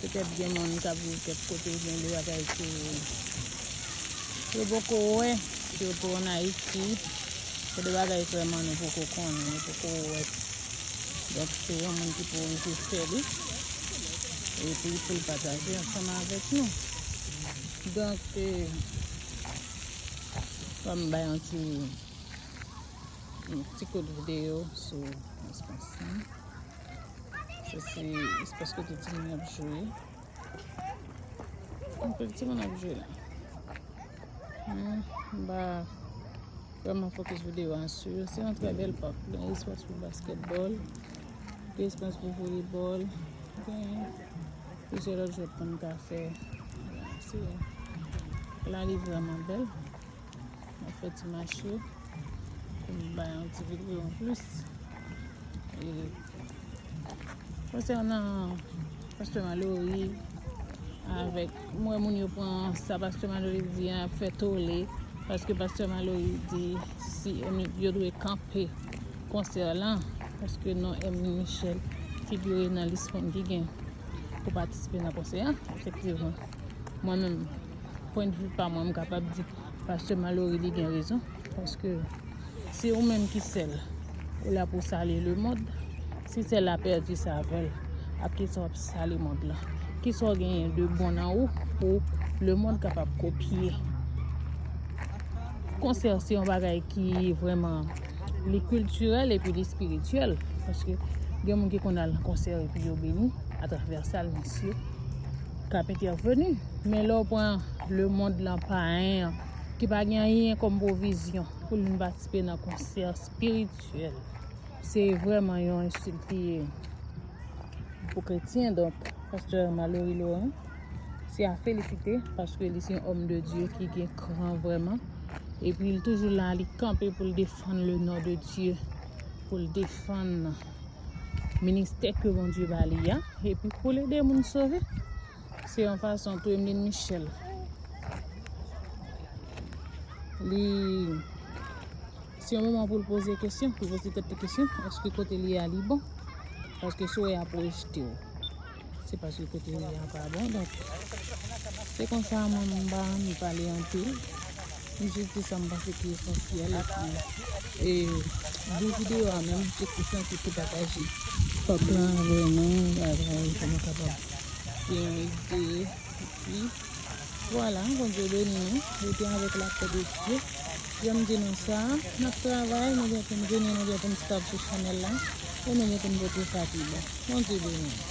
Petèt gen moun kap viv kèk kote oubyen de bagay ke yo poko wè, sitou an Ayiti, gen de bagay vrèman nou poko konnen, nou poko wè. Donk se yon moun ki pou rive fè li, epi pou l pataje ansanm avèk nou. Donk, fò m bay yon ti, yon ti kout videyo sou Mons Konsan. Se se espas kote ti moun ap jwe. Mwen kote ti moun ap jwe la. Mwen ba vreman fokus videyo an su. Se yon tre bel pak. Gen espas pou basketbol. Gen espas pou volebol. Gen plizyè lòt jwèt pou nou ka fè. Se la li vreman bel. Mwen fè ti mache pou m bay yon ti videyo an plis. E konsènan Pastè Malory avèk mwen moun yo pran sa Pastè Malory di an ap fè tole paske Pastè Malory di si yo dwe kanpe konsè lan paske non Emile Michel figure nan lis moun ki gen pou patisipe nan konsè an. Efektivman mwen menm pwen de vue pa mwen m kapab di pastè Malory li gen rezon paske se ou menm ki sèl ou la pou sale le mond si sèl la pèdi savèl ak ki sa wap sale mond la ki sa w genyen de bon nan ou pou le mond kapab kopye konsè se yon bagay ki vreman li kulturel epi li spirituel paske gen moun ki konn al konsè epi yo beni atravè sal misye k ap entèveni. Men lè w pran lemond lan payen an ki pa gen anyen kòm pwovizyon pou l vin patisipe nan konsè espirityèl, se vrèman yon ensilt li ye pou kretyen. Donk, pastè Malory Laurent se a felisite paske li se yon òm de Dye ki gen kran vrèman. Epi l toujou la, li kanpe pou l defann lenon de Dye, pou l defann ministè ke Bondye ba li a, epi pou l ede moun sove. Se yon fason tou Emeline Michel li se yon moman pou l poze kesyon, pou l poze tèt li kesyon, eske kote li a li bon? Paske si w e a pou rejte w. Se paske kote ou ye a pa bon donk se konsa mwen m pa anvi pale anpil m jis di sa m panse ki esansyèl epi di videyo a menm se pou sa se pou pataje pèp la avè nou bagay pou nou kapab gen yon ide epi vwala Bondye beni nou rete avèk lapè de Dye jan m di nou sa n ap travay nou gen pou n vini nou gen pou n stab sou chanèl la e nou gen pou n pote sa ki bon Bondye beni nou.